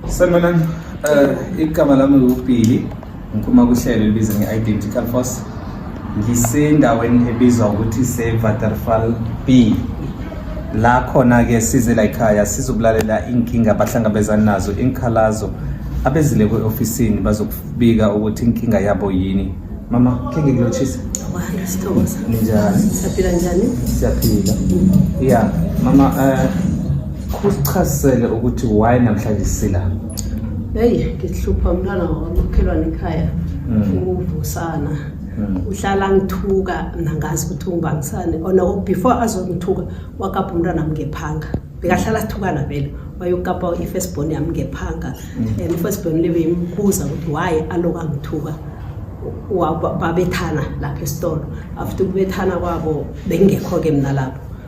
Sanibonani, uh, igama lami nguBhili, ngiphuma kuhlelo elibiza nge-Identical Force. Ngisendaweni ebizwa ukuthi se-Waterfall B. La khona-ke size la ekhaya sizokulalela inkinga abahlangabezana nazo, inkhalazo abezile kwe-ofisini bazokubika ukuthi inkinga yabo yini. Mama, khe ngikulochise. Wahamba sithokoza. Ninjani? Siyaphila njani? Siyaphila. Yeah, mama uh, Kusichazisele ukuthi why namhlanje sila. Hey, ngihlupha umntwana wamakhelwane ekhaya. Mm. Uvusana. Mm. uhlala ngithuka mna ngazi ukuthi ungibangisane ona oh, before azongithuka wakapha umntwana mngephanga bekahlala sithukana vele wayokukapa i-first born yami ngephanga mm. and i-first born lebe imbuza ukuthi why aloka ngithuka babethana lapha esitolo after ukubethana kwabo bengingekho-ke mna lapho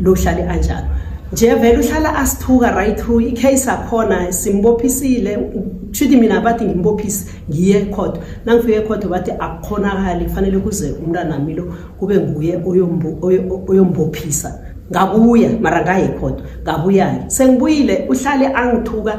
lohlale anjalo nje vele uhlala asithuka right through icase akhona simbophisile kushuthi mina bathi ngimbophise ngiye ekhotho nangifike ekhotho bathi akukhonakali kufanele kuze umntanami lo kube nguye oyombophisa ngabuya mara ngaye ekhotho ngabuya-ke sengibuyile uhlale angithuka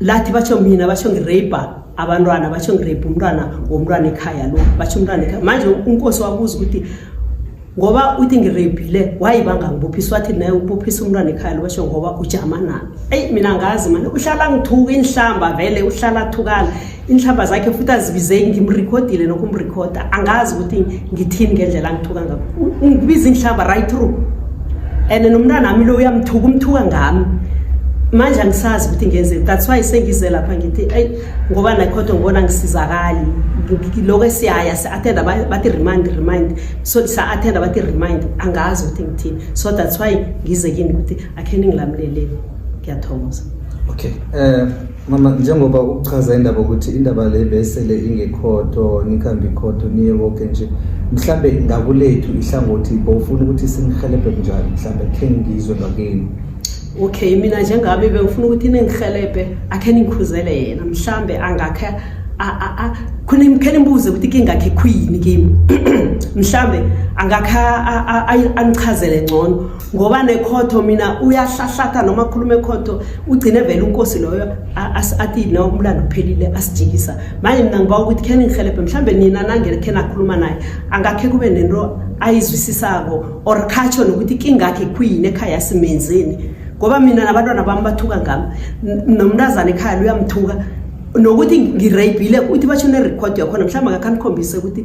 lathi batsho mina batsho ngireyibha abantwana batsho ngireyibha umntwana womntwana ekhaya lo batsho umntwana ekhaya manje unkosi wabuza ukuthi ngoba uthi ngireyibhile wayi bangangibophiswa wathi naye ubophisa umntwana ekhaya lo basho ngoba ujama nami eyi mina ngazi mani uhlala ngithuka inhlamba vele uhlala athukala inhlamba zakhe futhi azibizeki ngimrekhodile nokho umrekhoda angazi ukuthi ngithini ngendlela angithuka ngakho ngibiza inhlamba right through and nomntana wami lo uyamthuka umthuka ngami manje angisazi ukuthi ngenzeni that's why sengize lapha ngithi eyi ngoba nakhodo ngibona ngisizakali lokho esiyaya si-athenda bathi remind remind so sa-athenda bathi remind angazi ukuthi ngithini so that's why ngize kini ukuthi akhe ningilamuleleni ngiyathokoza okay um Mama njengoba ukuchaza indaba ukuthi indaba le besele ingekhodo nikhambe ikhodo niye konke nje mhlambe ngakulethu ihlangothi bowufuna ukuthi sinihelebhe kunjani mhlambe khe ngizwe ngakini okay mina njengami bengifuna ukuthi ningihelebhe akhe ningikhuzele yena mhlambe angakhe khona imkhele imbuze ukuthi kingakhe khuyini kimi mhlambe angakhe angichazele ngcono ngoba nekhotho mina uyahlahlatha noma akhulume ekhotho ugcine vele unkosi loyo athi no umlando uphelile asijikisa manje mina ngiba ukuthi khe ningihelebhe mhlawumbe nina nangele khe nakhuluma naye angakhe kube nento ayizwisisako or khatsho nokuthi kingakhe khuyini ekhaya simenzeni ngoba mina nabantwana bami bathuka ngami nomntazana ekhaya luyamthuka nokuthi ngirayibhile uthi basho ne-record yakhona mhlawumbe akakhanikhombise ukuthi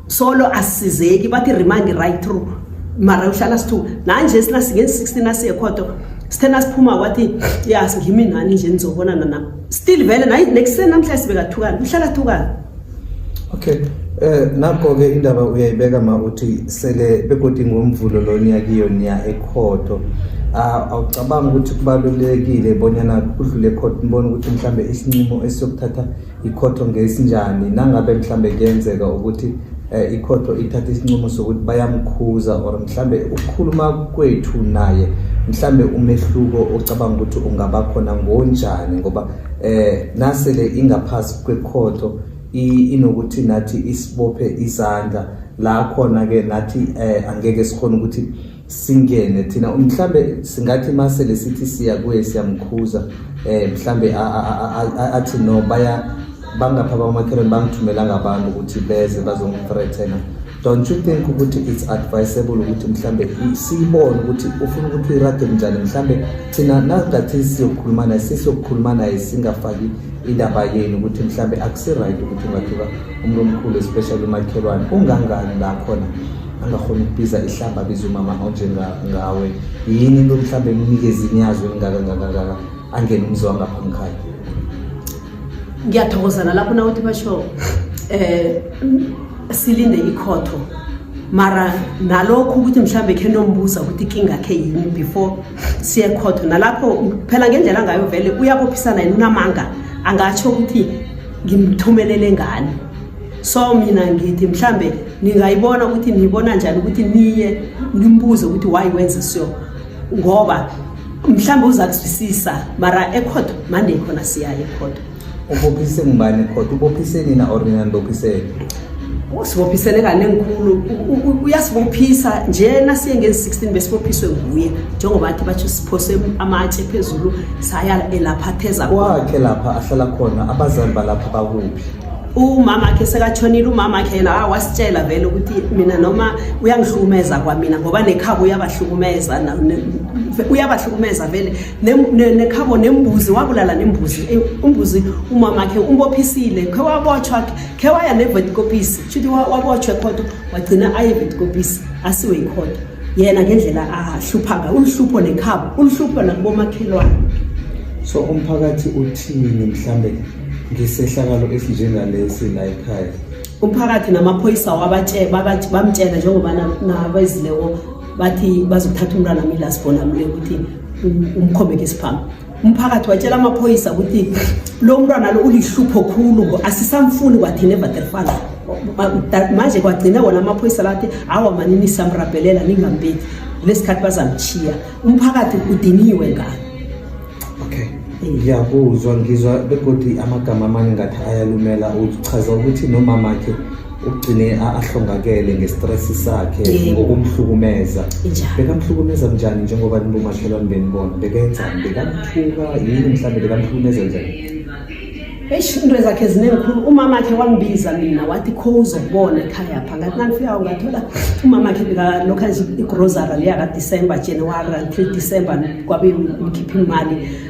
solo asisizeki bathi remind right through mara uhlala sithu nanje sina singe 16 asiye khoto sithena siphuma wathi ya singimi nani nje nizobona nana still vele nayi next sen namhla sibeka thukana uhlala thukana okay Eh nakho ke indaba uyayibeka ma uthi sele begodi ngomvulo lo niyakiyo niya ekhotho ah, awucabanga ukuthi kubalulekile bonyana kudlule ekhotho nibone ukuthi mhlambe isinqumo esiyokuthatha ikhotho ngesinjani nangabe mhlambe kuyenzeka ukuthi eh, ikhotho ithatha isinqumo sokuthi bayamkhuza or mhlambe ukukhuluma kwethu naye mhlambe umehluko ocabanga ukuthi ungaba khona ngonjani ngoba eh nasele ingaphasi kwekhotho inokuthi nathi isibophe izandla la khona ke nathi eh angeke sikhona ukuthi singene thina mhlambe singathi mase lesithi siya kuye siyamkhuza eh mhlambe athi no baya bangapha bamakhelwane bangithumela ngabantu ukuthi beze bazongithreathena don't you think ukuthi it's advisable ukuthi mhlambe siyibone ukuthi ufuna ukuthi irage njani mhlambe thina nangathi siyokhuluma naye sesiyokhuluma naye singafaki indaba yenu ukuthi mhlambe akusi-right ukuthi ungathuka umuntu omkhulu especially umakhelwane ungangani la khona angakhona ukubiza ihlamba biza umama onjengawe yini into mhlawumbe emnikeza inyazo elingaka ngakangaka angene umzi wangapha umkhaya ngiyathokoza nalapho nawuthi basho eh silinde ikhotho mara nalokho ukuthi mhlawumbe khe nombuza ukuthi kingakhe yini before siye khotho nalapho phela ngendlela angayo vele uyabophisana yini unamanga angatsho ukuthi ngimthumelele ngani so mina ngithi mhlambe ningayibona ukuthi niyibona njani ukuthi niye nimbuze ukuthi why wenze so ngoba mhlambe uza kuzwisisa mara ekhotho mande khona siyaye ekhotho ubophise ngubani ekhotho ubophise nina or nina nibophisele usibophisele kane ngikhulu uyasibophisa nje nasiye ngezi 16 besibophiswe nguye njengoba athi bathi siphose amatshe phezulu saya elapha theza kwakhe lapha ahlala khona abazali balapha bakuphi umama akhe sekatshonile umama akhe la ah, wasitshela vele ukuthi mina noma uyangihlukumeza kwamina ngoba nekhabo uyabahlukumeza uyabahlukumeza vele nekhabo nembuzi wabulala nembuzi eh, umbuzi umama akhe umbophisile khe wabotshwa khe waya nevetikopisi shuthi wabotshwa ekhoto wagcina aye vetikopisi asiwe ikhoto yena ngendlela ahlupha ngayo uluhlupho nekhabo uluhlupho nakubomakhelwane so umphakathi uthini mhlambe ngesehlakalo esinjengalesi la ekhaya umphakathi namaphoyisa bamtshela njengoba nabezileko bathi bazokuthatha umntwana mila sibona mle ukuthi umkhomeke isiphambi umphakathi watshela amaphoyisa ukuthi lo mntwana lo ulihlupho khulu ngo asisamfuni kwathina evaterfala manje kwagcina wona amaphoyisa lathi awa manini samrabhelela ningambeki lesikhathi bazamchiya umphakathi udiniwe ngani okay ngiyakuzwa ngizwa begodi amagama amanye ngathi ayalumela uchaza ukuthi nomamakhe ugcine ahlongakele ngestress sakhe ngokumhlukumeza bekamhlukumeza njani njengoba nibumakhelwane benibona bekenzani bekamthuka yini mhlawumbe bekamhlukumeza njani eish into zakhe zinezikhulu umama khe wangibiza mina wathi kho uzokubona ekhaya pha ngathi nangifikayo ngathola umama khe bekalokhu enza igrosary leya kadecember january until december kwabe ngikhipha imali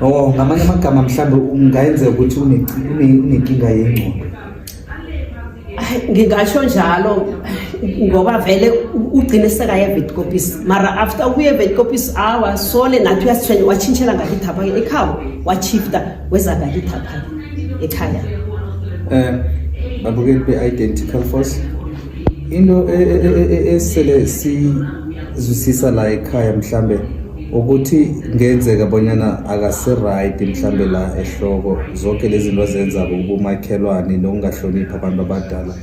Oh, ngamanye amagama mhlawumbe ungayenzeka ukuthi unenkinga yengqondo. Ngingasho njalo ngoba vele ugcine sekayevet copies mara after ukuyevet copies awa sole nathi uyasithwenya washintshela ngakithi apha ekhaya washifta weza ngakithi apha ekhaya um babukeli be-identical force into esele sizwisisa la ekhaya mhlambe ukuthi kungenzeka bonyana akasiright mhlambe la ehloko zonke lezi zinto azenzako ubumakhelwane nokungahloniphi abantu abadala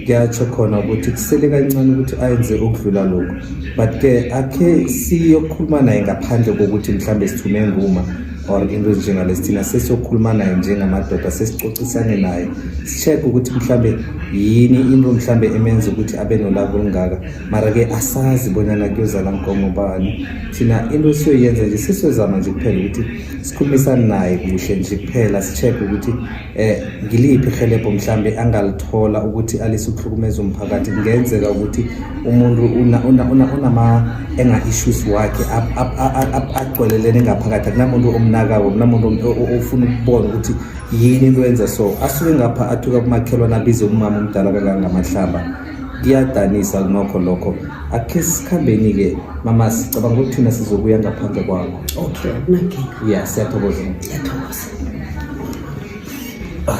kuyatsho khona ukuthi kusele kancane ukuthi ayenze okudlula lokhu but ke akhe siyokhuluma naye ngaphandle kokuthi mhlawumbe sithume nguma or into ezinjengalesi thina sesiyokhuluma naye njengamadoda sesicocisane naye si-check ukuthi mhlawumbe yini into mhlawumbe emenza ukuthi abe nolaka olungaka mara-ke asazi bonyana kuyozala nkomo bani thina into esiyoyenza nje sesiyozama nje kuphela ukuthi sikhulumisane naye kuhle nje kuphela si-check-e ukuthi um ngiliphi ihelebho mhlawumbe angalithola ukuthi alise ukuhlukumeza umphakathi kungenzeka ukuthi umuntu unama-enga-issues wakhe agcwelelene ngaphakathi akunamuntu omnakako kunamuntu ofuna ukubona ukuthi yini into yenza so asuke ngapha athuka kumakhelwane abize umama omdala kangangamahlamba Kuyadanisa nokho lokho. Akhe sikhambeni ke mama sicabanga ukuthi thina sizokuya ngaphandle kwakho. Okay, akunankinga. Yeah, siyathokoza. Ngiyathokoza. Ah.